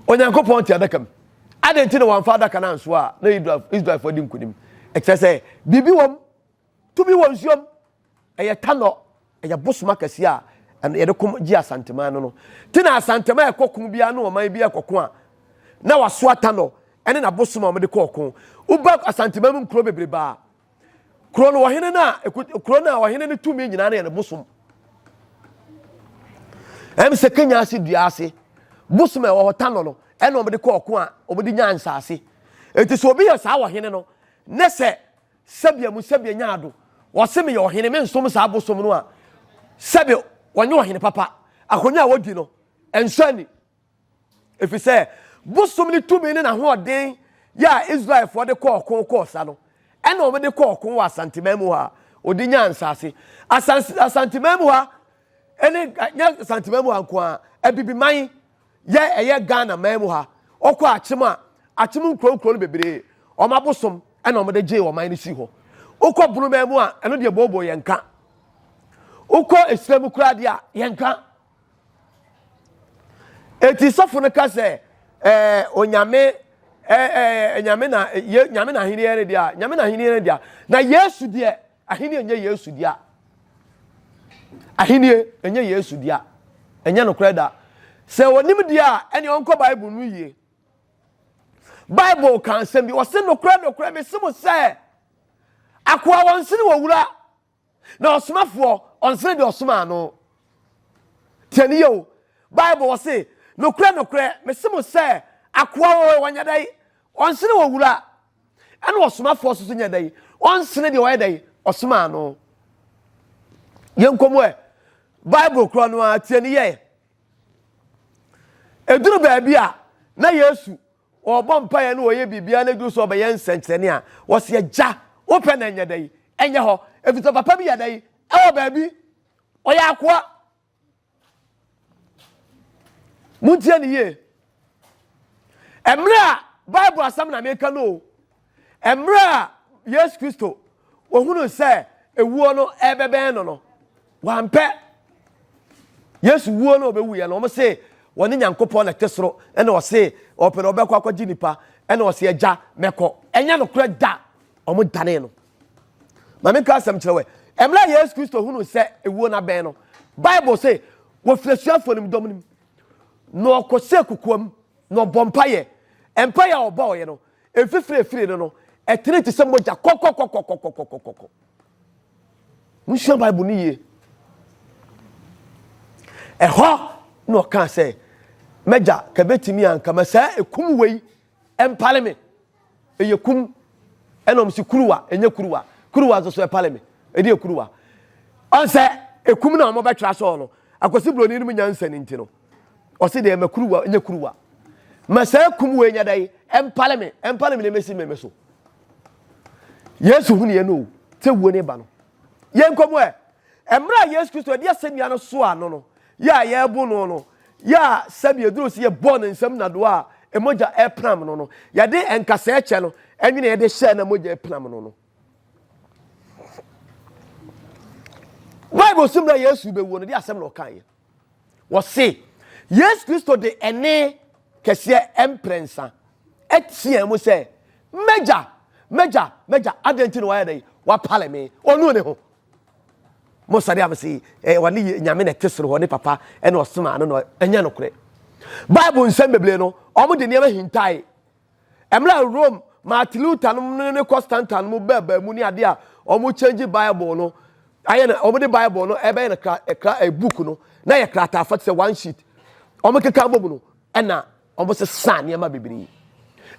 C: Onyankopɔn te adaka mu. Adɛn nti na wɔamfa adaka no ansoa a na Israelfoɔ adi nkonim? Ɛkyerɛ sɛ biribi wɔm, tumi wɔ nsuom. Ɛyɛ tanɔ, ɛyɛ bosom akɛseɛ a ɛno yɛde kom gye Asanteman no no. Ti na Asanteman a ɛkɔ ko biara ne ɔman biara kɔko a na wasoa tanɔ ɛne n'abosom a wɔde kɔ ɔko. Woba Asanteman mu nkuro bebrebe a Kuro no ɔhene no a kuro no a ɔhene no tumi nyinaa no yɛ ne bosom. Ɛm sɛ Kenya ase dua ase bosom a ɛwɔ hɔ tanɔ no ɛna wɔde kɔ ɔko a wɔde nya nsaase. Eti sɛ obi yɛ saa wɔ hene no ne sɛ sɛbea mu sɛbea nya ado wɔse meyɛ ɔhene me nsom saa bosom no a sɛbe wɔnyɛ ɔhene papa akonnwa a wɔdi no ɛnsɔ ani. Efisɛ bosom no tumi ne n'ahoɔden yɛ a Israelfoɔ de kɔɔ ɔko kɔɔ sa no, ɛna wɔde kɔɔ ɔko wɔ Asanteman mu hɔ a, wɔde nyaa nsase. Asan Asanteman mu ha ne nyɛ Asanteman mu ha nko ara, Abibiman yɛ ɛyɛ Ghana man mu ha. Ɔkɔ akyem a, akyem nkuro nkuro no bebree, wɔn abosom ɛna wɔde gyee ɔman no sii hɔ. Wokɔ Bonoman mu a, ɛno deɛ booboo yɛnka. Wokɔ Esire mu koraa deɛ a, yɛnka. Eti sɔfo no ka sɛ, ɛɛ onyame ɛɛ ɛɛ nyame na ye nyame na ahenni yɛ deɛ nyame na ahenni yɛ deɛ na yesu deɛ ahenni nyɛ yesu deɛ ahenni nyɛ yesu deɛ ɛnyɛ nokorɛ da sɛ onim deɛ a ɛne ɔnkɔ bible no yie bible ka nsɛm bi ɔse nokorɛ nokorɛ mese mo sɛ akoa wɔn sene wɔ wura Na ɔsomafoɔ ɔnsene deɛ ɔsomaa no. Tie ne yie o. Bible wɔ se, Nokorɛ, nokorɛ, mese mo sɛ, akoa o, ɔnyɛ dɛn? Ɔnsene owura. Ɛna ɔsomafoɔ nso so nyɛ dɛn? Ɔnsene deɛ ɔyɛ dɛn? Ɔsomaa no. Yɛnkɔ mu ɛ. Bible korɔ no ara, tie ne yie. Ɛduru baabi a, na Yesu Wɔbɔ mpaeɛ ne wɔyɛ biribiara na ɛduru sɛ wɔbɛyɛ nsɛnkyerɛnne a, wɔse Agya, wopɛ na ɛnyɛ dɛn? Ɛnyɛ hɔ. Ɛfiri sɛ papa bi yɛ dɛn? Ɛwɔ baabi. Ɔyɛ akoa. Montie ne yie. Mmerɛ a Bible asɛm na meka no o. Mmerɛ a Yesu Kristo ɔhunuu sɛ ɛwuo no ɛrebɛbɛn no no, wampɛ Yesu wuo no ɔbɛwuiɛ no, wɔn se wɔne Nyankopɔn na ɛte soro, ɛna ɔse ɔpɛ no ɔbɛkɔ akɔgye nipa, ɛna ɔse agya mɛkɔ. Ɛnyɛ nokorɛ da, wɔn danee no. Ma menka asɛm kyerɛ wɛ, mmerɛ a Yesu Kristo hunuu sɛ ɛwuo no abɛn no, Bible se wɔfiri asuafoɔ no mu dɔm no mu, na ɔkɔsɛ kokoam, na ɔbɔ mpayɛ. Mpayɛ a ɔbɔɔyɛ no, Mfifiri a ɛfirii no no, ɛtenee te sɛ mogya kɔkɔkɔkɔkɔkɔkɔkɔ. Monsua Bible no yie. Ɛhɔ na ɔkaa sɛ, M'agya, ka bɛtumi a, nka ma saa ɛkum wei ɛmpale me. Ɛyɛ kum. Ɛna ɔm se kuruwa, ɛnyɛ kuruwa. Kuruwa nso so ɛpale me. Ɛdi yɛ kuruwa. Ɔn sɛ ɛkum na ɔmɔbɛtwerɛ asɔɔ no, Akwasi Buroni no mu nyansa no nti no. Ɔse deɛ ma kuruwa nyɛ kuruwa. Ma saa kum wei nya dɛn ɛmpale me ɛmpale me na ɛmɛsi me me so. Yesu hu neɛ no o sɛ wuo ne ba no. Yɛn kɔmu ɛ ɛmmerɛ a Yesu Kristo ɛde asɛnnua no so ano no yɛ a yɛbo no no yɛ a sɛbi ɛduru sɛ yɛ bɔ ne nsam na doa a ɛmogya ɛpenam no no yɛde ɛnkasa ɛkyɛ no ɛnwene yɛde hyɛ na mogya ɛpenam no no. Bible so mmerɛ Yesu bɛwuo no de asɛm na ɔkaeɛ. Wɔse Yesu Kristo de ɛnne kɛseɛ mprɛnsa teaa mu sɛ, M'Agya, m'Agya, m'Agya, adɛn nti na wayɛ dɛn? Wapale me. Ɔnu ne ho. Mo sɛdeɛ a mese eh, ɔne yɛ Nyame na ɛte soro hɔ, ne Papa ɛna ɔsomaa no na ɛnyɛ nokorɛ. Bible nsɛm bebree no, wɔn de nneɛma hintae. Mmerɛ a Rome Martin Luther nom ne ne Constantine nom bɛɛbaa mu ne adeɛ a wɔn change Bible no ayɛ no wɔn de Bible no ɛbɛyɛ no kra kra ɛ book no na yɛ krataa fa te sɛ one sheet wɔn keka bɔ mu no ɛna wɔn sesa nneɛma bebree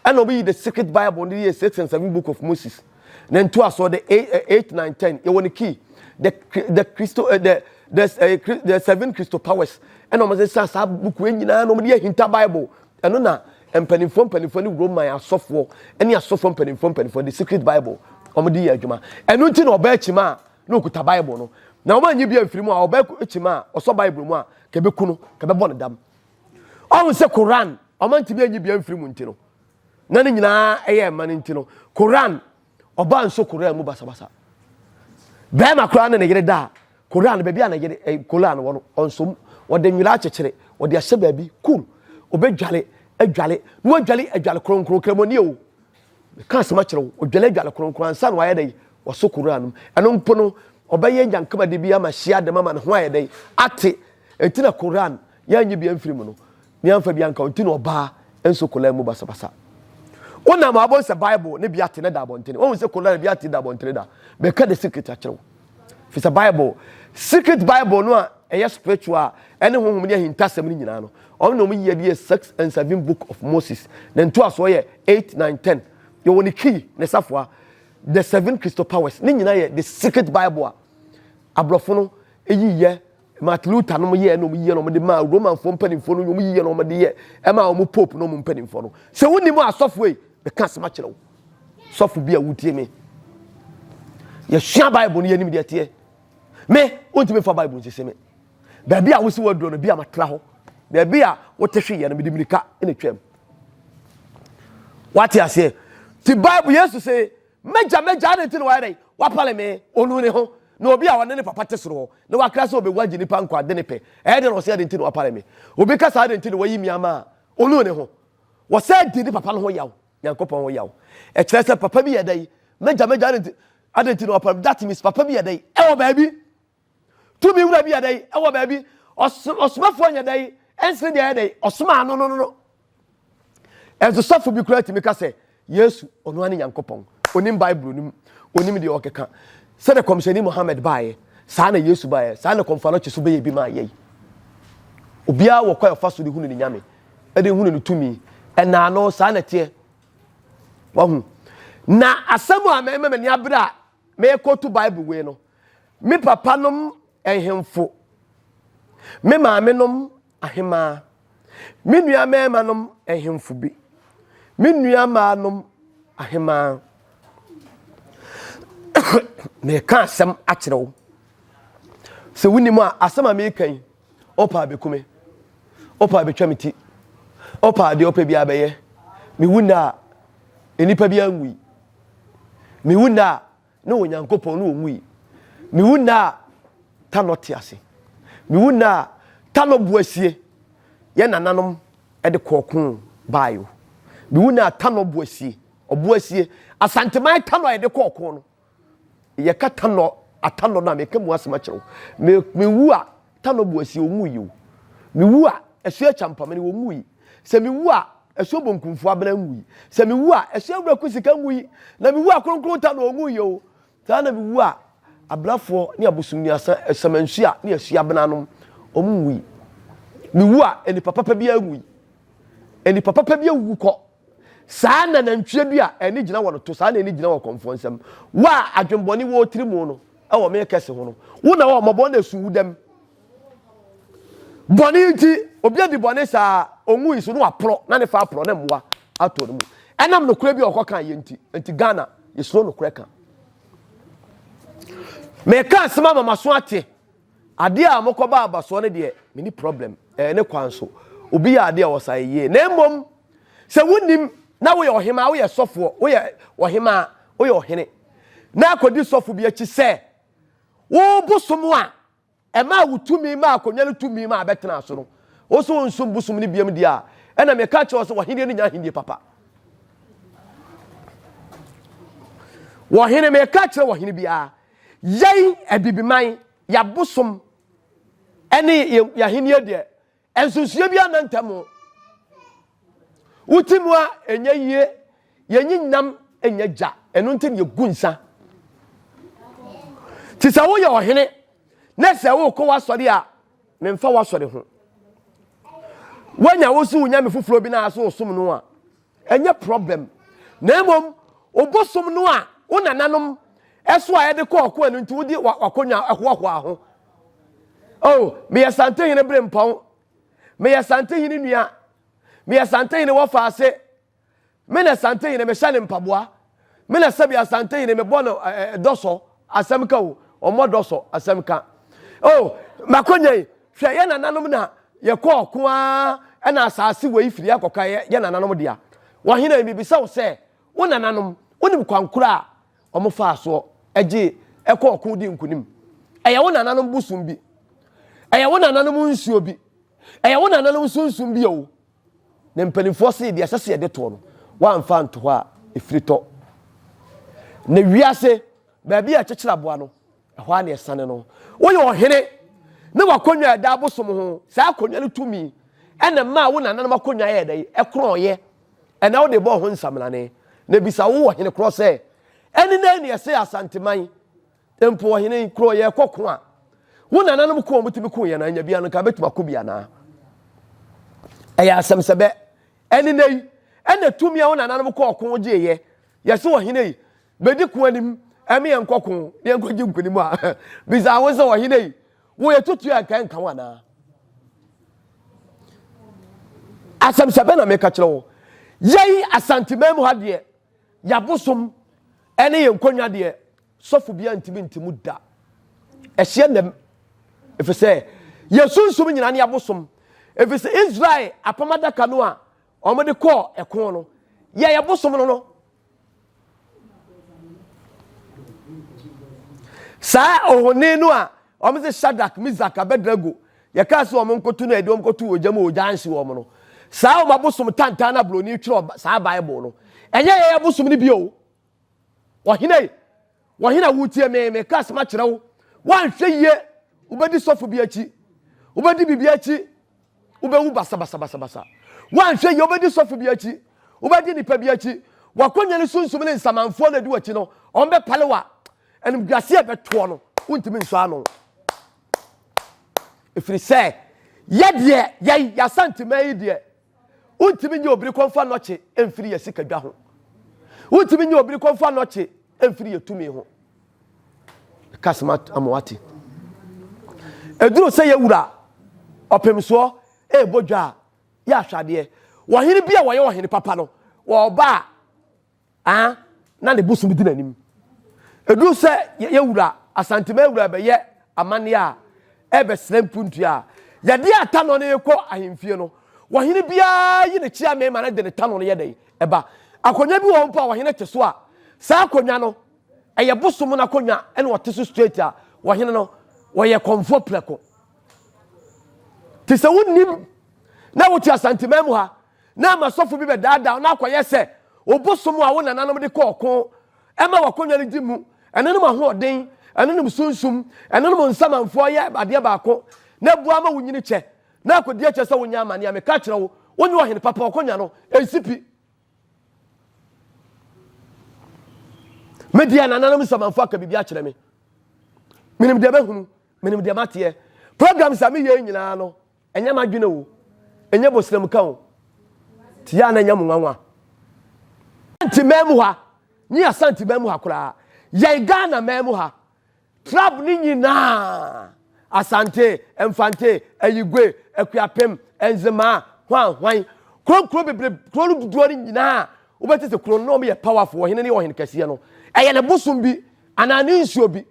C: ɛna wɔn yi the secret Bible no yɛ six and seven book of Moses na ntoasoɔ the eight nine ten yɛ wɔn key the the Christo eh, the the, uh, the seven Christo powers ɛna wɔn sesa saa book yɛ nyinaa na wɔn de yɛ hinta Bible Ɛno na mpanimfoɔ mpanimfoɔ ne Roman asɔfoɔ ne asɔfoɔ mpanimfoɔ mpanimfoɔ de secret Bible wɔn de yɛ adwuma. Ɛno nti na ɔbaa kyima a na okuta Bible no na wɔn anyi bi amfiri mu a ɔbaa kyima a ɔsɔ Bible mu a kɛbɛku no kɛbɛbɔ no dam. Ɔho sɛ Koran wɔn antumi anyi bi amfiri mu nti no na ne nyinaa ɛyɛ ɛma no nti no Koran Ɔbaa nso koraa mu basabasa. Bɛrima koraa ne ne yere da a, koraa no baabi a ne yere eh, koraa no wɔ no, ɔnsom. Wɔde nwera akyekyere, wɔde ahyɛ baabi, kum. Obɛdwale, adwale, na wadwale adwale kronkron, kramoni o. Meka asɛm akyerɛ wo, odwale adwale kronkron ansa na wayɛ dɛn? Wɔso koraa no mu. Ɛno mpo no, ɔbɛyɛ nyankamade bi ama hyia dɛm ama ne ho ayɛ dɛn? Ate. Ɛnti na koraa no, yɛanye bi amfiri mu no. ne amfa bi anka wo nti na ɔbaa nso kolaa mu basabasa. Wonam a wobɛhu sɛ Bible ne Biate no da abɔntene. Woahu sɛ kolaa ne Biate da abɔntene da. Mɛka the secret akyerɛ wo. Fi sɛ Bible, secret Bible no a ɛyɛ spiritual a ɛne honhom ne ahintasɛm no nyinaa no, ɔno na wɔyi adi yɛ six and seven book of Moses. Ne ntoasoɔ yɛ eight, nine, ten. Yɛwɔ ne key, ne safoa, the seven crystal powers. Ne nyinaa yɛ the secret Bible a aborɔfo no yiyɛ Martin Luther nom yɛɛ nom yiyɛ na wɔn de maa Romanfoɔ mpanimfoɔ no nyɛ wɔn yiyɛ na wɔn de yɛ ɛmaa wɔn pope nom mpanimfoɔ no. Sɛ wo nim asɔfoɔ yi, meka asɛm akyerɛ wo. Sɔfo bi a wotie me. Yɛsua Bible no yɛnim deɛ teɛ. Me, wontumi fa Bible nsisi me. Baabi a wosi waduro no, bi a matra hɔ. Baabi a wote hwe yɛ no, mede mirika na twam. Wate aseɛ? Ti Bible Yesu se M'agya, m'agya, adɛn nti na wayɛ dɛn? Wapale me. Onu ne ho. Na obi a ɔne ne papa te soro hɔ, na wakra sɛ obewu agye nnipa nkwa, de ne pɛ. Ɛyɛ dɛn na ɔsɛ adɛn nti na wapale me? Obi ka saa adɛn nti na wayi me ama a? Onu ne ho. Wɔsɛ di ne papa no ho yaw, Nyankopɔn ho yaw. Ɛkyerɛ sɛ papa bi yɛ dɛn? M'agya, m'agya, adɛn nti, adɛn nti na wapale me? That means papa bi yɛ dɛn? Ɛwɔ baabi. Tumi wura bi yɛ dɛn wɔ baabi? Ɔsomafoɔ nyɛ dɛn ɛnsene deɛ yɛ dɛn ɔsomaa no no no no. Ɛnso sɔfo bi koraa tumi ka sɛ Yesu ɔno ane Nyankopɔn. Onim Bible no mu, onim deɛ ɔkeka. Sɛdeɛ kɔmhyɛni Mohammed baeɛ, saa na Yesu baeɛ, saa na kɔmfano kye so bɛyɛ bi maa yɛi. Obiara wɔ kwan ɔfa so de hunu ne Nyame, de hunu ne tumi. Ɛnaa no, saa na ɛteɛ. Wahu? Na asɛm a mɛma m'ani abere a mɛkɔtu Bible wei no, Me papanom ahemfo, me maamenom ahemmaa, me nua mmarimanom ahemfo bi, me nua mmaanom ahemmaa. Meka asɛm akyerɛ wo. Sɛ wonim a, asɛm a meka yi, ɔpa abɛku me. Ɔpa abɛtwa me ti. Ɔpa adeɛ ɔpɛ bi abɛyɛ. Mewu nna a, nnipa bi anwui. Mewu nna a, Ne Onyankopɔn ne ɔwui. Mewu nnɛ a, Tanɔ te ase. Mewu nnɛ a, Tanɔ bo asie. Yɛn nananom de kɔɔ ko baeɛ o. Mewu nnɛ a, Tanɔ bo asie. Ɔbo asie. Asanteman Tanɔ a yɛde kɔɔ ko no, yɛka Tanɔ, Atanɔ no a, meka mu asɛm akyerɛ wo. Me, mewu a, Tano Boasie, wɔwuu yi o. Me wu a, ɛso yɛ Kyampamene, wɔwuu yi. Sɛ me wu a, ɛso Bonkumfo Abena nwuu yi. Sɛ me wu a, ɛso Awura Kusika nwuu yi. Na me wu a, Kronkron Tano ɔnwuu yi o. Saa na me wu a, Abenafoɔ ne Abosomnuasa, Asamansuah ne Asua Abena nom, wɔn nwuu yi. Me wu a, nnipa papa biara nwuu yi. Nnipa papa bi awuwu kɔ. Saa na nantwie bi a ani gyina wɔ no to saa na ani gyina wɔ kɔmfoɔ nsam. Wo a adwenbɔne wɔ wo tiri mu no wɔ me kɛse ho no, wo na wɔ mmɔbɔ na esu wo dam. Bɔne nti, obi adi bɔne saa ɔnwui so na waporɔ na ne fa aporɔ na mmoa atɔ no mu. Ɛnam nokorɛ bi a ɔkɔ kan yɛ nti, nti Ghana yɛsuro nokorɛ ka. Meka asɛm ama maso ate. Adeɛ a mokɔba abasoɔ no deɛ, meni problem. Ɛyɛ ne kwan so. Obi yɛ adeɛ a ɔsa yɛ yie. Na mmom, Sɛ wonim na woyɛ ɔhemaa, woyɛ sɔfoɔ, woyɛ ɔhemaa, woyɛ ɔhene, na akɔdi sɔfo bi akyi sɛ wo bosom a ɛmaa wo tumi maa akonnwa no tumi maa bɛtenaa so no, wo nso wonsom bosom no biam deɛ a, ɛna meka kyerɛ wo sɛ wɔhendeɛ no nya ahennie papa. Wɔhene, meka kyerɛ wɔhene biara, yɛn abibiman, yɛabosom ɛne yɛahennie deɛ, Nsusuiɛ biara nna ntam o. Wote mu a ɛnyɛ yie, yɛnyi nam nyɛ gya, ɛno nti na yɛgu nsa. Nti sɛ woyɛ ɔhene na sɛ wokɔ w'asɔre a, memfa w'asɔre ho. Woanya wo so wo nyame foforɔ bi na asɛ wosom no a, Ɛnyɛ problem na mmom obosom no a wo nananom ɛso a ɛde kɔ ɔko ɛno nti wode wakonwa ɛhoahoa ho. Oh, meyɛ Santehene Berempɔn, meyɛ Santehene nua, meyɛ Santehene Wɔfaase, me na Santehene mehyɛ ne mpaboa. Me na sɛbi Asantehene me bɔ no eh, eh, dɔsɔ asɛm ka o, ɔmmɔ dɔsɔ asɛm ka. Oh, makonya yi, hwɛ yɛ nananom na yɛkɔ ɔko ara ɛna asase wei firi akɔka yɛ, yɛ nananom dea. Wɔhene yi mebisa wo sɛ, wo nananom, wonim kwankora a wɔn faa soɔ gye ɛkɔ ɔko di nkunim? Ɛyɛ wo nananom bosom bi, ɛyɛ wo nananom nsuo bi, ɛyɛ wo nananom sunsum bi o. Na mpanimfoɔ se deɛ ɛsɛ sɛ yɛde toɔ no, wɔamfa anto hɔ a, ɛfiri tɔ. Na wiase, baabi a ɛkyekyere aboa no, ɛhɔ ara na ɛsane no. Woyɛ ɔhene, na w'akonnwa a ɛda abosom ho, saa akonnwa no tumi, ɛna ɛmaa wo nananom akonnwa yɛɛ dɛn? Ɛkorɔnyeɛ. Ɛna wode bɔɔ ho nsaminane. Na bisa wo ɔhene korɔ sɛ, ɛne dɛn na ɛsɛe Asanteman? Mpo ɔhene yi kuro yɛkɔ ko a wo nananom ko a wɔtumi ko yɛn na anya bia no nka bɛtumi akɔ bi anaa ɛyɛ asɛm sɛ bɛ ɛne nɛ yi ɛna tumi a wo nananom kɔ ɔko gyeeɛ yɛse ɔhene yi bɛdi ko anim ɛme yɛn kɔ ko yɛn kɔ gye nkonim a bisa wo sɛ ɔhene yi wo yɛ tutu a nka nka wo anaa asɛm sɛ bɛ na meka kyerɛ wo yɛyi asanteman mu ha deɛ yɛabosom ɛne yɛn nkonnwa deɛ Sɔfo biara ntumi nte mu da. Ɛhyɛ nnam. Ɛfiri sɛ yɛ sunsum nyinaa ne abosom. Ɛfiri sɛ Israel apam adaka no a wɔde kɔɔ ɛko no, yɛ yɛ bosom no no. Saa ohoni no a wɔn sɛ Shadrach, Mizak, Abednego, yɛkaa sɛ wɔn nkoto no a yɛde wɔn kɔto ogya mu ogya anhye wɔn no. Saa wɔn abosom tantan na buroni twerɛ saa Bible no. Ɛnyɛ yɛ yɛ abosom no bio. Ɔhene, ɔhene a wotie me, meka asɛm akyerɛ wo. Woanhwɛ yie, wobɛdi sɔfo bi akyi, wobɛdi biribi akyi, wobɛwu basabasabasabasa. Woanhwɛ yie, wobɛdi sɔfo bi akyi, wobɛdi nipa bi akyi. Wakonya ne sunsum ne nsamanfoɔ na edi w'akyi no, wɔn bɛpale wa. Animguaseɛ ɛbɛtoɔ no, wontumi nsɔ ano. Ɛfiri sɛ, yɛ deɛ, yɛn, yɛasante man yi deɛ, Wontumi nye obiri kɔmfa nnɔkye mfiri yɛ sika dwa ho. Wontumi nye obiri kɔmfa nnɔkye mfiri yɛ tumi ho. Meka asem ama wate. Eduru sɛ yɛ wura ɔpemsoɔ ɛɛbɔ dwa a, yɛ ahwɛ adeɛ. Wɔhene bi a wɔyɛ ɔhene papa no, wɔɔba a, ah na ne bosom di n'anim ɛduru sɛ yɛyɛ wura asantema wura bɛyɛ amanneɛ a ɛbɛsrɛ mpuntua a yɛde atanɔ no rekɔ ahemfie no wɔhene biara yi ne kyea mmarima no de ne tanɔ no yɛ dɛn ɛba akonnwa bi wɔ hɔ mpo a wɔhene te so a saa akonnwa no ɛyɛ bosom no akonnwa ɛna wɔte so straight a wɔhene no wɔyɛ kɔmfoɔ prɛko te sɛ wonim na wote asantema mu ha na ama sɔfo bi bɛdaadaa wo na akɔyɛ sɛ obosom a wo nananom de kɔ ɔko ma w'akonnwa no di mu. Ɛnonom ahoɔden, ɛnonom sunsum, ɛnonom nsamanfoɔ yɛ adeɛ baako na boa ma wonyini kyɛ na akɔdi akyɛ sɛ wonya amane a. Meka kyerɛ wo, wonyɛ ɔhene papa, ɔkonnwa no nsi pi. Me deɛ nananom nsamanfoɔ aka biribi akyerɛ me. Menim deɛ mahunu, menim deɛ mateɛ. Programs a meyɛ nyinaa no, Ɛnyɛ m'adwene o, ɛnyɛ bosram ka o, nti yɛ a na ɛnyɛ mo nwanwa. Asante man mu ha, nye Asante man mu ha koraa, yɛn Ghana man mu ha, trab no nyinaa, Asante, Mfante, Ayigwe, Akuapem, Nzemaa, hwan hwan, kuro nkuro bebree, kuro no dodoɔ no nyinaa, wobɛte sɛ kuro no na wɔyɛ powerful, ɔhene no yɛ ɔhene kɛseɛ no, ɛyɛ ne bosom bi anaa ne nsuo bi,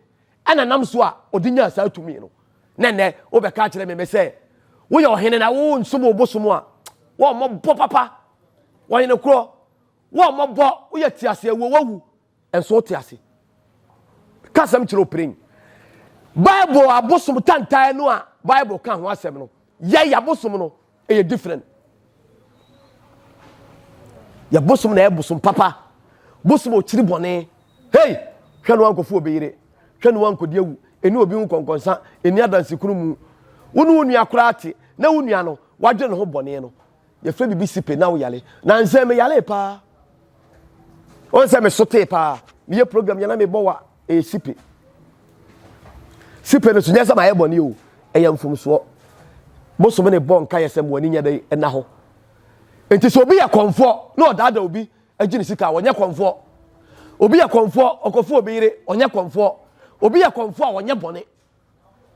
C: Ɛna nam so a ɔde nyaa saa tumi no. Na nnɛ wobɛka akyerɛ me me sɛ woyɛ ɔhene na wo nsom wo bosom a wɔmmɔbɔ papa ɔhene korɔ wɔmmɔbɔ woyɛ te ase awuo wawu nso wote ase ka asɛm kyerɛ opirin bible abosom tantae no a bible ka ho asɛm no yɛyɛ abosom no ɛyɛ different yɛ bosom na ɛyɛ bosom papa bosom okyiri bɔne hei hwɛ no wankɔfo obɛyere hwɛ no wankɔdi awu ɛni obi ho kɔnkɔnsa ɛni adanse kunu mu wo ne wo nua koraa te na wo nua no wadwene ne ho bɔne no yɛfrɛ biribi sipe na wo yale na nsɛn me yale paa ɔn sɛ me so tee paa meyɛ program yɛ na mebɔ wa ɛyɛ eh, sipe sipe no so nyɛ sɛ mayɛ bɔne o ɛyɛ mfomsoɔ bosom ne bɔ nka yɛ sɛ moani nyɛ dɛn ɛna hɔ nti sɛ obi yɛ kɔmfoɔ na ɔdaada obi agye ne sika wɔnyɛ kɔmfoɔ obi yɛ kɔmfoɔ ɔkɔfo obi yere ɔnyɛ kɔmfoɔ obi yɛ kɔmfoɔ a wɔnyɛ bɔne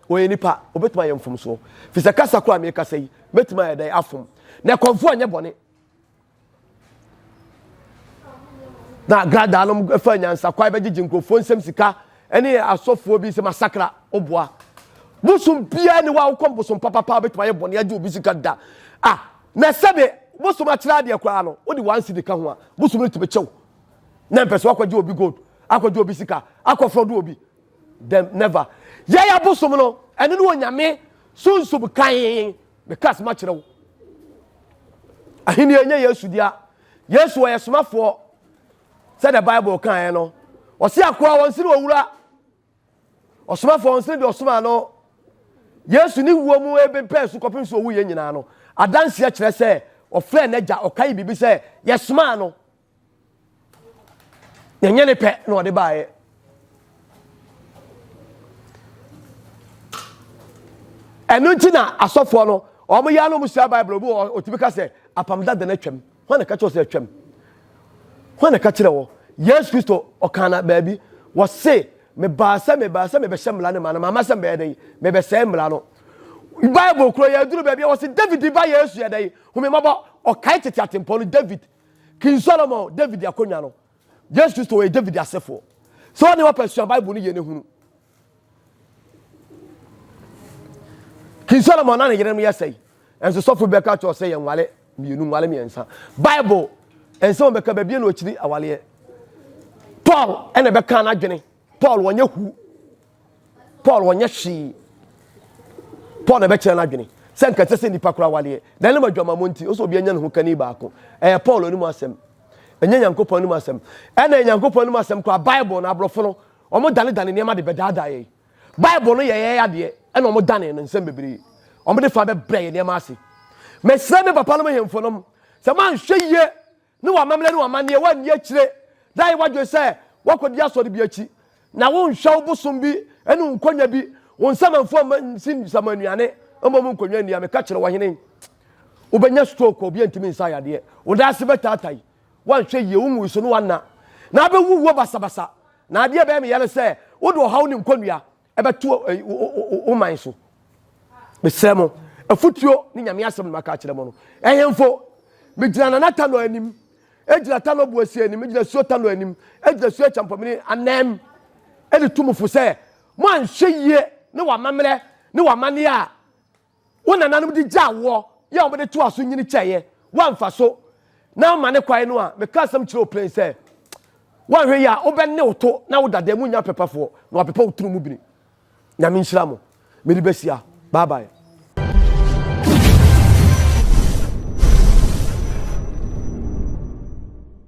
C: wɔyɛ nipa obetuma yɛ mfomsoɔ fisɛ kasa koro a mekasa yi betuma yɛ dɛn afom na kɔmfoɔ nyɛ bɔne na agradaa nom fa nyansakwan bɛgyegye nkurɔfoɔ nsɛm sika ɛne asɔfoɔ bi sɛ masakra woboa bosom biara ne wawokɔm bosom papapa wobɛtumi ayɛ bɔne agye obi sika da a na sɛde bosom akyerɛ adeɛ koraa no wode wansi de ka ho a bosom no tumi kyɛw na mpɛ so akɔgye obi gold akɔgye obi sika akɔfrɔ do obi then never yɛyɛ bosom no ɛno ne onyame sunsum kan Meka asɛm akyerɛ wo. Ahenni nyɛ Yesu dea. Yesu ɔyɛ somafoɔ sɛ the Bible kaeɛ no. Ɔse akoa wɔn sene owura. Ɔsomafoɔ wɔn sene deɛ ɔsomaa no. Yesu ne wuo mu ebepɛɛ so kɔpem so owu yɛn nyinaa no. Adanseɛ kyerɛ sɛ ɔfrɛɛ n'agya ɔkae biribi sɛ yɛsomaa no. na ɛnyɛ ne pɛ na ɔde baeɛ ɛno nti na asɔfoɔ no wɔn yɛ no musua bible obi wɔ otumi ka sɛ apam dada na atwam wɔn na ka kyerɛ sɛ atwam wɔn na ka kyerɛ wɔ yesu kristo ɔkan na baabi wɔse mebaa sɛ mebaa sɛ mebɛhyɛ mmara no ma no mama sɛ mbɛyɛ dɛn mebɛsɛe mmara no bible kuro yɛ aduru baabi a wɔse david ba yesu yɛ dɛn homemɔbɔ ɔkae tete atempɔn no david King Solomon, David akonnwa no. Yesu Kristo wɔyɛ David asefoɔ. Sɛ ɔne wɔpɛ sua Bible no yie no hunu. King Solomon na ne yerenom yɛ sɛe. Nso sɔfo bɛka kyerɛ sɛ yɛn nwale mmienu nwale mmiɛnsa. Bible nsɛm bɛka baabi na ɔkyiri awaleɛ. Paul ɛna bɛka n'adwene. Paul wɔnyɛ hu. paul wɔnyɛ hwee paul na ɛbɛkyerɛ no adwene sɛ nka ɛsɛ sɛ nnipa kora awareɛ na ɛnam adwamammɔ nti ɔsɛ obi anya ne ho kani baako ɛyɛ paul anim asɛm ɛnyɛ nyankopɔn anim asɛm ɛna yɛ nyankopɔn anim asɛm kora bible no aborɔfo no wɔn danedane nneɛma de bɛdaadaa yɛn bible no yɛ yɛn adeɛ ɛna wɔn dane no nsɛm bebree wɔn de fa bɛbrɛ yɛn nneɛma ase mesrɛ me papa no mo hemfo nom sɛ manhwɛ yie ne wɔn amammerɛ ne wɔn amanneɛ, woanni akyire na ayɛ w'adwene sɛ woakɔdi asɔre bi akyi, na wonhwɛ wo bosom bi ne wo nkɔnya bi, wo nsamanfoɔ mma nsi nsamannuane, mmom nkonnwa nni a meka kyerɛ wo, ɔhene, wobɛnya stroke a obiara ntumi nsa yadeɛ, wo nan ase bɛtaatai, woanhwɛ yie, wo nguuso ne w'anna, na abɛwuwuo basabasa, na adeɛ a ɛbɛyɛ me ya ne sɛ wode ɔhaw ne nkɔnnua ɛbɛto wo man so mesrɛ mo afotuo ne nyame asɛm no maka akyerɛ mo no ɛhemfo megyina nana tanɔ anim ɛgyina tanɔ boasie anim ɛgyina suo tanɔ anim ɛgyina suo kyampɔmene anam ɛde to mo fo sɛ mo anhwɛ yie ne wamammerɛ ne wamaneɛ a Wo nananom de gyaa woɔ, yɛ a wɔde toaa so nyini kyɛeɛ, woamfa so na ama ne kwan no a, meka asɛm kyerɛ wo plen sɛ, woanhwɛ yie a, wobɛne wo to na wo dada mu nyɛ apepafoɔ, na wɔapepa wo tiri mu bini. Nyame nhyira mo. Mede bɛsia. Bye bye.